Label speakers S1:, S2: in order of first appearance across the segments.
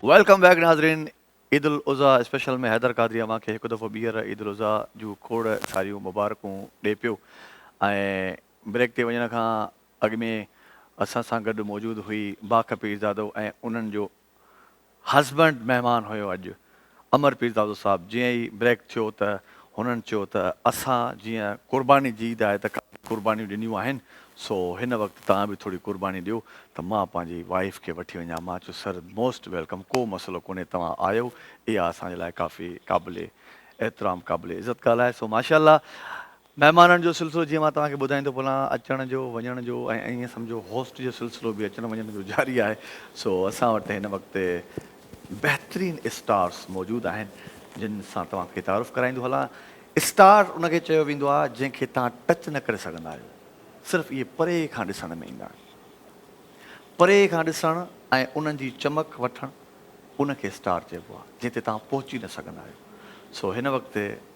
S1: Welcome back ناظرين Eid ul-Adha special ۾ Haider Qadri اوهان کي هڪ دفعو ٻيهر عيد الاضحيٰ جون کوڙ ساريون مبارڪون ڏي پيو ۽ بريڪ تي وڃڻ کان اڳ ۾ اسان سان گڏ موجود هئي باکپيرزادو ۽ انهن جو هسبنڊ مهمان هيو اڄ امر پيردادو صاحب جيئن ئي بريڪ ٿيو ته هنن چيو ته اسان جيئن قرباني جي عيد آهي ته ڪافي قربانيون ڏنيون آهن سو هن وقت توهان به ٿوري قرباني ڏيو ته مان پنهنجي وائيف کي وٺي وڃان مان چيو سر موسٽ ويلڪم ڪو مسئلو ڪونهي توهان آيو اها اسان جي لاء ڪافي قابل احترام قابل عزت ڳالهه آهي سو ماشاءالله مهمانن جو سلسلو جيئن مان توهان کي ٻڌائيندو پلان اچڻ جو وڃڻ جو ۽ ائين سمجهو هوسٽ جو سلسلو به اچڻ وڃڻ جو جاري آهي سو اسان وٽ هن وقت بهترين اسٽارس موجود آهن جن سان توهان کي تعارف ڪرائيندو هلان اسٽار ان کي چيو ويندو آهي جنهن کي توهان ٽچ نه ڪري سگهندا آهيو صرف اهي پري کان ڏسڻ ۾ ايندا آهن پري کان ڏسڻ ۽ انهن جي چمڪ وٺڻ ان کي اسٽار چئبو آهي جنهن تي توهان پهچي نه سگهندا آهيو سو هن وقت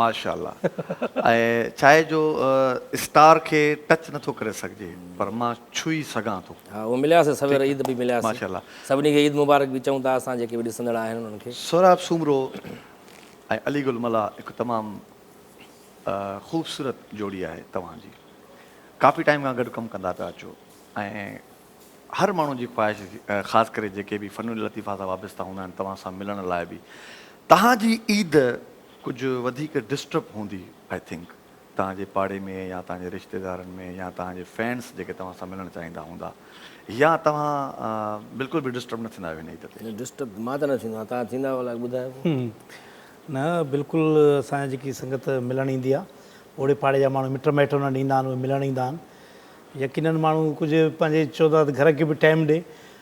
S2: ماشاءالله
S1: ۽ ڇاهي جو اسٽار کي ٽچ نٿو ڪري سگهجي پر مان ڇهي سگهان ٿو. ها اهو ملياسي سوير
S2: عيد به ملياسي سڀني کي
S1: عيد مبارڪ
S2: به چئون ٿا اسان جيڪي به ڏسندڙ آهن انهن کي. سهراب سومرو
S1: ۽ علي گل ملاح هڪ تمام خوبصورت جوڙي آهي توهان جي ڪافي ٽائيم کان گڏ ڪم ڪندا پيا اچو ۽ هر ماڻهو جي خواهش خاص ڪري جيڪي به فنون لطيفه سان وابسته هوندا آهن توهان سان ملڻ لاء به توهان جي عيد ڪجهه وڌيڪ ڊسٽرپ هوندي آء ٿنڪ توهان جي پاڙي ۾ يا توهان جي رشتيدارن ۾ يا توهان جي فينس جيڪي توهان سان ملڻ چاهيندا هوندا يا توهان بلڪل به ڊسٽرپ نه ٿيندا آهيو هن عيد تي. نه ڊسٽرپ مان ته نه ٿيندو
S2: آهيان توهان ٿيندا آهيو الاء ٻڌايو ڪو. نه
S3: بلڪل اسان جي جيڪي سنگت ملڻ ايندي آهي اوڙي پاڙي جا ماڻهو مٽ مائٽ انهن ڏيندا آهن اهي ملڻ ايندا آهن يقينن ماڻهو ڪجهه پنهنجي چوندو آهي ته گهر کي به ٽائيم ڏي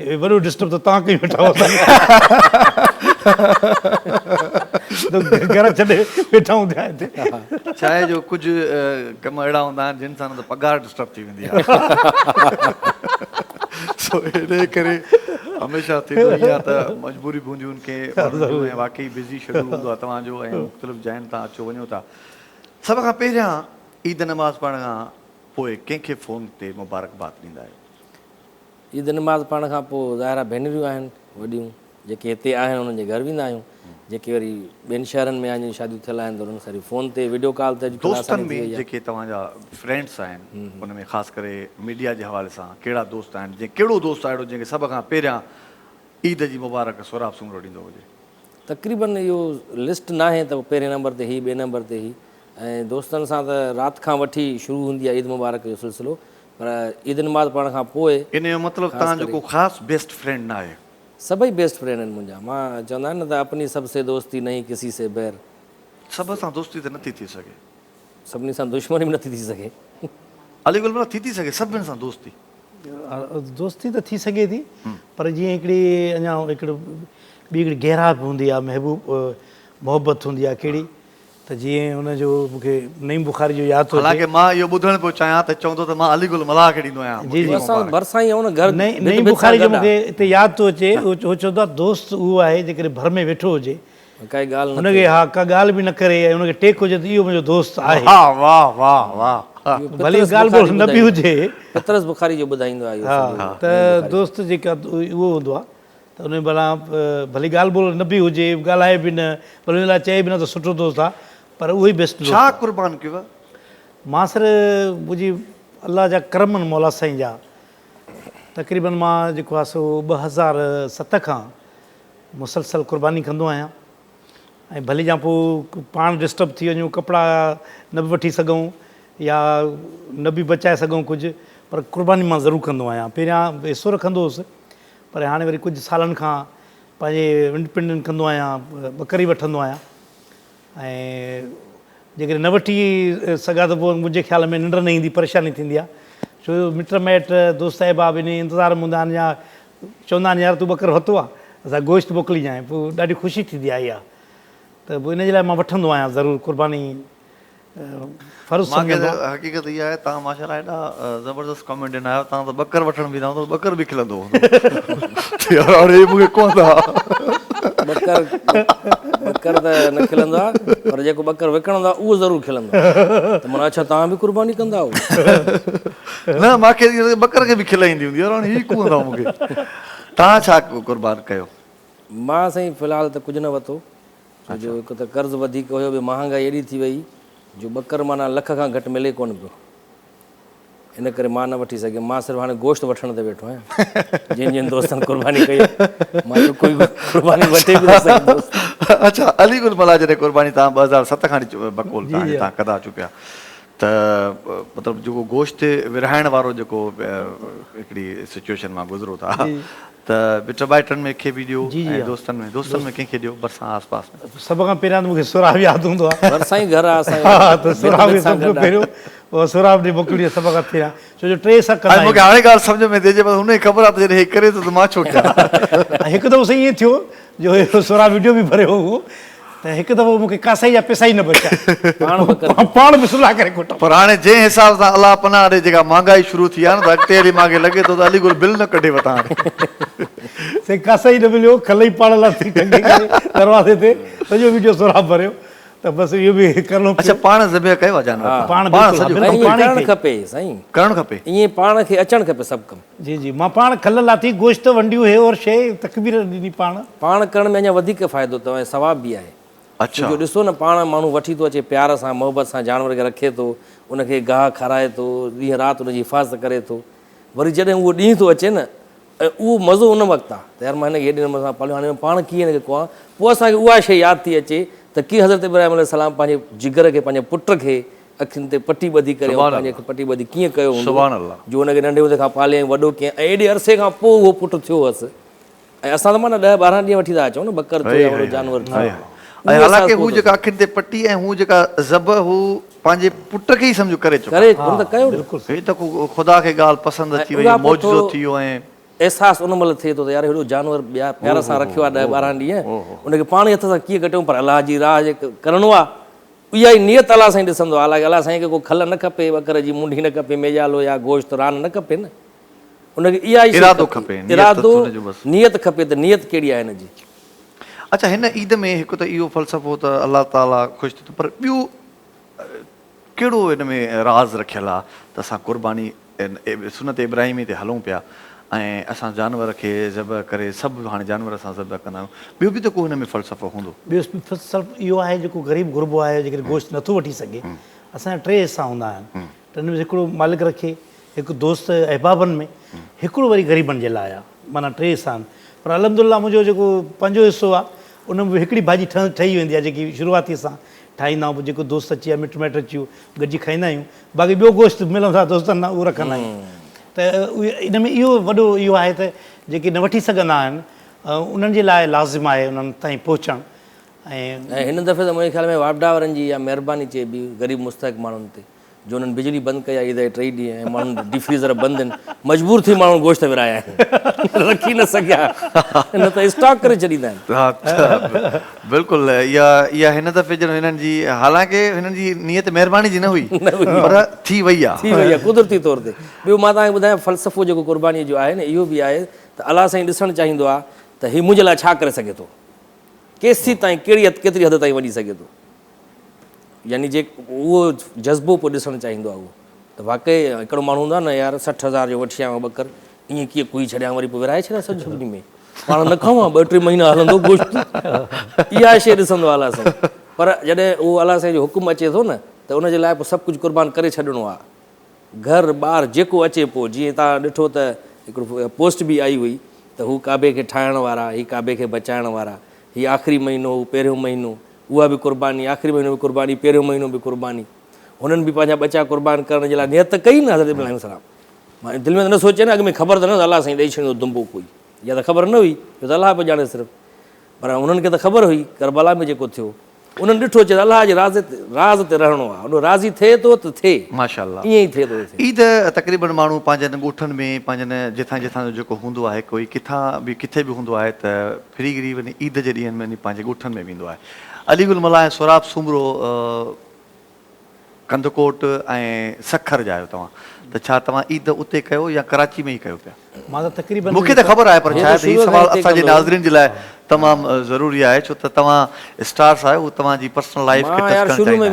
S2: هي وڏو ڊسٽرب
S3: ته توهان ڪيو ويٺا هئا سائين گهر ڇڏي ويٺا هونديا هتي. ڇا آهي جو
S1: ڪجهه ڪم اهڙا هوندا آهن جن سان نه ته پگهار ڊسٽرب ٿي ويندي آهي سو انهي ڪري هميشه ٿيندو ائين آهي ته مجبوريون به هونديون آهن ڪي ماڻهن جون ۽ واقعي بزي شيڊول هوندو آهي توهان جو ۽ مختلف جاين تان اچو وڃو ٿا سڀ کان پهريان عيد نماز پڙهڻ کان پوء ڪنهن کي فون تي مبارڪباد ڏيندا آهيو؟ عيد
S2: نماز پڙهڻ کان پوء ظاهر آهي ڀينريون آهن وڏيون جيڪي هتي آهن انهن جي گهر ويندا آهيون جيڪي وري ٻين شهرن ۾ آهن جن جون شاديون ٿيل آهن ته انهن سان وري فون تي وڊيو ڪال تي اڄڪلهه آساني ٿي وئي آهي. دوستن ۾ جيڪي
S1: توهان جا فرينڊس آهن ان ۾ خاص ڪري ميڊيا جي حوالي سان ڪهڙا دوست آهن جيئن ڪهڙو دوست آهي اهڙو جنهن کي سڀ کان پهريان عيد جي مبارڪ سهراب سومرو ڏيندو هجي؟ تقريبا اهو
S2: لسٽ ناهي ته پهرين نمبر تي هي ٻئي نمبر تي هي ۽ دوستن سان ته رات کان وٺي شروع هوندي آهي عيد مبارڪ جو سلسلو پر عيد نماز پڙهڻ کان پوء انهيء جو مطلب خاص توهان
S1: جو ڪري. ڪو خاص بيسٽ فرينڊ ناهي. سڀئي بيسٽ فرينڊ
S2: آهن منهنجا. مان چوندا آهن نه ته اپني سب سي دوستي نهين ڪسي سي بير. سڀ سان
S1: دوستي ته نٿي ٿي سگهي. سڀني سان
S2: دشمني به نٿي ٿي سگهي. علي گل
S1: ڀلا ٿي ٿي سگهي سڀني سان دوستي؟
S3: دوستي ته ٿي سگهي ٿي پر جيئن هڪڙي اڃا هڪڙي ٻي هڪڙي گهرائپ هوندي آهي محبوب محبت هوندي آهي ڪهڙي. ته جيئن ان جو مون کي نعيم بخاري جو ياد ٿو اچي. حالانڪه مان اهو ٻڌڻ پيو
S1: چاهيان ته چوندو ته مان علي گل ملاح کي ڏيندو آهيان جي جي. مقيمه
S3: مبارڪ.
S2: نعيم بخاري جو مون کي
S3: اتي ياد ٿو اچي هو چوندو آهي دوست اهو آهي جيڪڏهن ڀر ۾ ويٺو هجي هن
S2: کي ها ڪا ڳالهه به
S3: نه ڪري ۽ ان کي ٽيڪ هجي ته اهو منهنجو دوست آهي. واهه واهه واهه
S1: واهه. ڀلي هي ڳالهه
S3: ٻولهه نه به هجي. پطرس بخاري جو
S2: ٻڌائيندو آهي اهو سڄو. ها ته
S3: دوست جيڪا اهو هوندو آهي. ته انهي ڀلا ڀلي ڳالهه ٻولهه نه به هجي، ڳالهائي به نه، پر انهي لاء چئي به نه ته سٺو دوست آ، پر اهو ئي بيسٽ دوست آ. ڇا قربان ڪيو؟
S1: ماسر
S3: منهنجي الله جا ڪرم آهن مولا سائين جا، تقريبن مان جيڪو آ سو ٻه هزار ست کان مسلسل قرباني ڪندو آهيان ۽ ڀلي جا پوء پاڻ ڊسٽرب ٿي وڃون، ڪپڙا نه به وٺي سگهون يا نه به بچائي سگهون ڪجهه، پر قرباني مان ضرور ڪندو آهيان، پهريان حصو رکندو هوس. پر هاڻي وري ڪجهه سالن کان پنهنجي انڊپينڊنٽ ڪندو آهيان ٻڪري وٺندو آهيان ۽ جيڪڏهن نه وٺي سگهان ته پوء منهنجي خيال ۾ ننڊ نه ايندي پريشاني ٿيندي آهي ڇو جو مٽ مائٽ دوست احباب انهي انتظار ۾ هوندا آهن يا چوندا آهن يار تون ٻڪرو ورتو آهي اسان گوشت موڪلجانء پوء ڏاڍي خوشي ٿيندي آهي اها ته پوء ان جي لاء مان وٺندو آهيان ضرور قرباني فرض سمجهندو آهيان. ماکي ته حقيقت اها آهي توهان
S1: ماشاءالله ايڏا زبردست ڪاميڊين آهيو توهان ته ٻڪر وٺڻ به ايندا هوندو ته ٻڪر به کلندو هوندو يار هاڻي هي مون کي ڪوندا ٻڪر
S2: ٻڪر ته نه کلندو آهي پر جيڪو ٻڪر وڪڻندو آهي اهو ضرور کلندو آهي ته منا اڇا توهان به قرباني ڪندا آهو
S1: نه ماکي ته ايئن ٻڪر کي به کل ايندي هوندي يار هاڻي هي ڪوندا مون کي توهان ڇا قربان ڪيو؟ مان سائين
S2: في الحال ته ڪجهه نه وتو. ڇو جو هڪ ته قرض وڌيڪ هيو ٻيو مهانگائي ايڏي ٿي وئي جو ٻڪر معنيٰ لک کان گهٽ ملي ڪونه پيو ان ڪري مان نه وٺي سگهيم مان صرف هاڻي گوشت وٺڻ تي ويٺو آهيان جن جن دوستن قرباني ڪئي آهي مان جو ڪوئي قرباني وٺي به نه سگهندو هوس. اڇا علي گل
S1: ملاح جڏهن قرباني تان ٻه هزار ست کان وٺي بقول ڪهاڻي تان ڪدا چڪيا ته مطلب جيڪو گوشت ورهائڻ وارو جيڪو هڪڙي سچويشن مان گذرو ٿا ته مٽ مائٽن ۾ کي به ڏيو ۽ دوستن ۾ دوستن ۾ ڪنهن کي ڏيو ڀرسان آس پاس ۾ سڀ کان پهريان ته مون کي
S3: سهراب ياد هوندو آهي ڀرسان ئي گهر آهي اسان جو ها ها
S2: ته سهراب کي
S3: سڀ کان پهريون سهراب ڏي موڪلي سڀ کان پهريان ڇو جو ٽي سڪ ۽ مون کي هاڻي ڳالهه سمجهه
S1: ۾ ٿي اچي بس هن کي خبر آهي ته جڏهن هي ڪري ٿو ته مان ڇو ڪيان. ۽ هڪ دفعو سائين ائين ٿيو
S3: جو اهڙو سورا وڊيو به ڀريو هو ته هڪ دفعو مون کي ڪاسائي جا پيسا ئي نه بچيا پاڻ به صلاح ڪري ڪٽم. پر هاڻي جنهن حساب
S1: سان الله پناهه ڏي جيڪا مهانگائي شروع ٿي آهي نه ته اڳتي هلي مان کي لڳي ٿو ته علي گل بل نه ڪڍي وتان هاڻي.
S3: سائين ڪاسائي نه مليو کلئي پاڻ لاسي ٽنگي ڪري دروازي تي سڄو وڊيو سورا ڀريو. ته بس اهو به ڪرڻو اڇا پاڻ ذبح ڪيو
S1: آ جانور کي پاڻ پاڻ سڄو ڪم ائين
S3: پاڻ ئي ڪرڻ کي
S2: کپي سائين ڪرڻ کپي ائين
S1: پاڻ کي اچڻ
S2: کپي سڀ ڪم. جي جي مان پاڻ کل
S3: لاٿي گوشت ونڊيو هي اور شي تڪبير ڏني پاڻ. پاڻ ڪرڻ ۾ اڃا وڌيڪ
S2: فائدو ته ۽ ثواب به آهي اڇا ڇوجو ڏسو نه
S1: پاڻ
S2: ماڻهو وٺي ٿو اچي پيار سان محبت سان جانور کي رکي ٿو ان کي گاهه کارائي ٿو ڏينهن رات ان جي حفاظت ڪري ٿو وري جڏهن اهو ڏينهن ٿو اچي نه ۽ اهو مزو ان وقت آ ته يار مان هن کي هيڏي نموني سان پاليو هاڻي مان پاڻ ڪيئن هن کي کوان پوء اسان کي اها شيء ياد ٿي اچي ته ڪيئن حضرت ابراهيم عليه السلام پنهنجي جگر کي پنهنجي پٽ کي اکين تي پٽي ٻڌي ڪري ۽ پنهنجي اکين پٽي ٻڌي ڪيئن ڪيو هوندو جو ان کي ننڍي هوندي کان پاليائين وڏو ڪيائين ۽ ايڏي عرصي کان پوء اهو پٽ ٿيو هئس ۽ اسان ته معنيٰ ڏهه ٻارهن ڏينهن وٺي ٿا اچون نه ٻڪر ٿيو يا وڏو جانور ٿيو ۽ حالانڪه
S1: هو جيڪا اکين تي پٽي ۽ هو جيڪا ذبح هو پنهنجي پٽ کي ئي سمجهو ڪري چڪا. ڪري هن ته ڪيو نه. هي ته ڪو خدا کي ڳالهه پسند اچي وئي معجزو ٿي ويو ۽. احساس ان مهل
S2: ٿئي ٿو ته يار هيڏو جانور پيار سان رکيو آهي ڏهه ٻارهن ڏينهن ان کي پاڻ ئي هٿ سان ڪيئن ڪٽيون پر الله جي راهه جي ڪرڻو آهي اها ئي نيت الله سائين ڏسندو آهي الاء سائين کي ڪو کل نه کپي ٻڪر جي منڍي نه کپي ميڄالو يا گوشت ران نه کپي نه ان کي اها ئي شيء کپي ارادو نيت کپي ته نيت ڪهڙي آهي هن جي. اچا
S1: هن عيد ۾ هڪ ته اهو فلسفو ته الله تعاليٰ خوش ٿي ٿو پر ٻيو ڪهڙو ان ۾ راز رکيل آ ته اسان قرباني سنت ابراهيمي تي هلون پيا ۽ اسان جانور کي ذبح ڪري سڀ هاڻي جانور اسان ذبح ڪندا آهيون ٻيو به ته ڪو هن ۾ فلسفو هوندو. ٻيو فلسفو
S3: اهو آهي جيڪو غريب غربو آهي جيڪڏهن گوشت نٿو وٺي سگهي اسان جا ٽي حصا هوندا آهن تن ۾ هڪڙو مالڪ رکي هڪ دوست احبابن ۾ هڪڙو وري غريبن جي لاء آ معنيٰ ٽي حصا آهن پر الحمدالله منهنجو جيڪو پنهنجو حصو آ ان ۾ به هڪڙي ڀاڄي ٺهن ٺهي ويندي آ جيڪي شروعاتي اسان ٺاهيندا آهيون پوء جيڪو دوست اچي يا مٽ مائٽ اچي اهو گڏجي کائيندا آهيون باقي ٻيو گوشت ملندو آ دوستن ڏانهن اهو رکندا آهيون ته ان ۾ اهو وڏو اهو آهي ته جيڪي نه وٺي سگهندا آهن انهن جي لاء لازم آهي انهن تائين پهچڻ
S2: ۽ هن دفعي ته منهنجي خيال ۾ واپڊا وارن جي اها مهرباني چئبي غريب مستحق ماڻهن تي جو انهن بجلي بند ڪئي آهي عيد جي ٽئي ڏينهن ۽ ماڻهن ڊي فريزر بند آهن مجبور ٿي ماڻهن گوشت ورايا آهن رکي نه سگهيا نه ته اسٽاڪ ڪري ڇڏيندا آهن. ها بلڪل اها
S1: اها هن دفعي جن هنن جي حالانڪ هنن جي نيت مهرباني جي نه هئي پر ٿي وئي آهي. ٿي وئي آهي قدرتي طور تي
S2: ٻيو مان توهان کي ٻڌايان فلسفو جيڪو قرباني جو آهي نه اهو به آهي ته الله سائين ڏسڻ چاهيندو آهي ته هي منهنجي لاء ڇا ڪري سگهي ٿو ڪيسي تائين ڪهڙي حد ڪيتري حد تائين وڃي سگهي ٿو يعني جي اهو جذبو پوء ڏسڻ چاهيندو آهي اهو ته واقعي هڪڙو ماڻهو هوندو آهي نه يار سٺ هزار جو وٺي آيو ٻڪر ائين ڪيئن ڪوئي ڇڏيان وري پوء ورهائي ڇڏيان سڄي سڀني ۾ پاڻ نه کائون ٻ ٽي مهينا هلندو گوشت اها شي ڏسندو آلا سائين پر جڏهن اهو آلا سائين جو حڪم اچي ٿو نه ته ان جي لاء پوء سڀ ڪجهه قربان ڪري ڇڏڻو آهي گهر ٻار جيڪو اچي پوء جيئن تان ڏٺو ته هڪڙو پوسٽ به آئي هئي ته هو ڪعبي کي ٺاهڻ وارا هي ڪعبي کي بچائڻ وارا هي آخري مهينو هو پهريون مهينو اها به قرباني آخري مهينو به قرباني پهريون مهينو به قرباني هنن به پنهنجا ٻچا قربان ڪرڻ جي لاء نيت ته ڪئي نه حضرت ابراهيم السلام مان دل ۾ ته نه سوچي نه اڳ ۾ خبر ته نه هئس الله سائين ڏئي ڇڏيندو دنبو ڪوئي اها ته خبر نه هئي اهو ته الله پيو ڄاڻي صرف پر انهن کي ته خبر هئي ڪربلا ۾ جيڪو ٿيو انهن ڏٺو چي الله جي راضي راز تي رهڻو آهي انهو راضي ٿئي ٿو ته ٿئي ماشاء الله ائين ئي ٿئي ٿو ته
S1: ٿئي. عيد
S2: تقريبن
S1: ماڻهو پنهنجن ڳوٺن ۾ پنهنجن جتان جتان جو جيڪو هوندو آهي ڪوئي ڪٿان به ڪٿي به هوندو آهي ته ڦري گهري وڃي عيد جي ڏينهن ۾ وڃي پنهنجي ڳوٺن ۾ ويندو آهي علي گل ملاح ۽ سهراب سومرو ڪنڌڪوٽ ۽ سکر جا آهيو توهان ته ڇا توهان عيد اتي ڪيو يا ڪراچي ۾ ئي ڪيو پيا؟ مون
S3: کي ته خبر آهي پر شايد
S1: هي سوال اسان جي ناظرين جي لاء تمام ضروري آهي ڇو ته توهان اسٽارس آهيو هو توهان جي پرسنل لائيف کي
S2: ٽچ ڪرڻ چاهيندا آهن.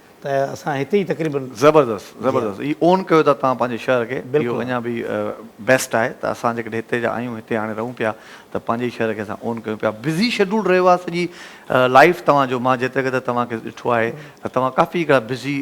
S3: ته اسان هتي ئي تقريبن. زبردست زبردست
S1: هي اون ڪيو ٿا توهان پنهنجي شهر کي اهو اڃا به بيسٽ آهي ته اسان جيڪڏهن هتي جا آهيون هتي هاڻي رهون پيا ته پنهنجي ئي شهر کي اسان اون ڪيون پيا بزي شيڊول رهيو آهي سڄي لائيف توهان جو مان جيتري قدر توهان کي ڏٺو آهي ته توهان ڪافي هڪڙا بزي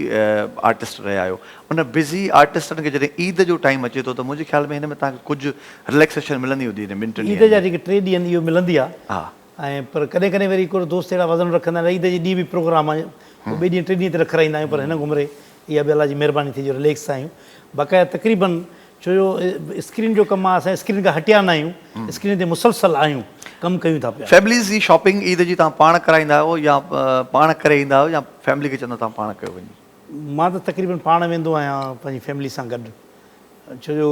S1: آرٽسٽ رهيا آهيو ان بزي آرٽسٽن کي جڏهن عيد جو ٽائيم اچي ٿو ته منهنجي خيال ۾ هن ۾ توهان کي ڪجهه رليڪسيشن ملندي هوندي هن ٻن ٽن ڏينهن ۾ عيد جا جيڪي ٽي ڏينهن
S3: اهو ملندي آهي ۽ پر
S1: ڪڏهن
S3: ڪڏهن وري ڪوڙ دوست اهڙا وزن رکندا آهن عيد جي ڏينهن به پروگرام آهن پوء ٻئي ڏينهن ٽي ڏينهن تي رکرائيندا آهيون پر هن گهمري اها به الله جي مهرباني ٿي جو رليڪس سان آهيون باقاعده تقريباً ڇو جو اسڪرين جو ڪم آهي اسان اسڪرين کان هٽيا نه آهيون اسڪرين تي مسلسل آهيون ڪم ڪيون ٿا پيا. فيمليز جي شاپنگ عيد
S1: جي توهان پاڻ ڪرائيندا آهيو يا پاڻ ڪري ايندا آهيو يا فيملي کي چوندا توهان پاڻ ڪيو وڃي. مان ته تقريباً
S3: پاڻ ويندو آهيان پنهنجي فيملي سان گڏ ڇو جو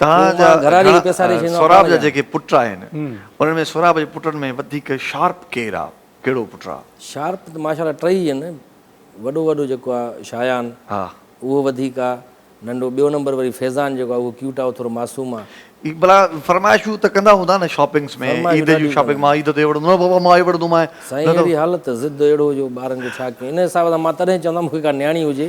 S2: توهان جا گهڻا سهراب
S1: جا جيڪي پٽ آهن انهن ۾ سهراب جي پٽن ۾ وڌيڪ شارپ ڪير آ ڪهڙو پٽ آ؟ شارپ ته ماشاءالله
S2: ٽئي ئي آهن وڏو وڏو جيڪو آ شايان اهو
S1: وڌيڪ آ
S2: ننڍو ٻيو نمبر وري فيضان جيڪو آ اهو ڪيوٽ آ اهو ٿورو معصوم آ. ڀلا
S1: فرمائشون ته ڪندا هوندا نه شاپنگس ۾ عيد جون شاپنگ مان عيد تي وڙهندو نه بابا مان ئي وڙهندومانء. سائين اهڙي حالت
S2: ضد اهڙو جو ٻارن کي ڇا ڪيون ان حساب سان مان تڏهن چوندم مون کي ڪا نياڻي هجي.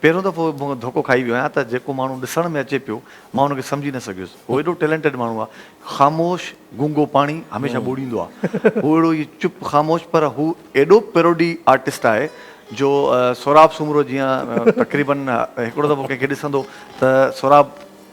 S1: پهريون دفعو مون ڌوڪو کائي ويو آهيان ته جيڪو ماڻهو ڏسڻ ۾ اچي پيو، مان ان کي سمجهي نه سگهيس. هو ايڏو ٽيلنٽڊ ماڻهو آهي. خاموش گونگو پاڻي هميشه ٻوڙيندو آهي. هو اهڙو ئي چپ خاموش پر هو ايڏو پيروڊي آرٽسٽ آهي جو سهراب سومرو جيان تقريبن هڪڙو دفعو ڪنهن کي ڏسندو ته سهراب.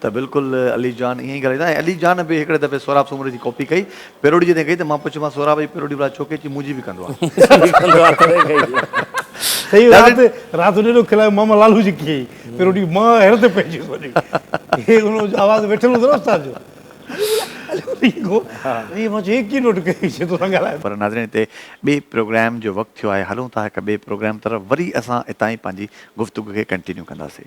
S1: ته بلڪل علي جان ائين ئي ڳالهائي ٿا ۽ علي جان به هڪڙي دفعي سهراب سومري جي ڪاپي ڪئي پيروڊي جڏهن ڪئي ته مان پڇيومانس سهراب هي پيروڊي ڀلا ڇو ڪئي چي منهنجي
S3: به ڪندو آهي.
S1: پر ناظرين هتي ٻئي پروگرام جو وقت ٿيو آهي هلون ٿا هڪ ٻئي پروگرام طرف وري اسان هتان ئي پنهنجي گفتگو کي ڪنٽينيو ڪنداسي.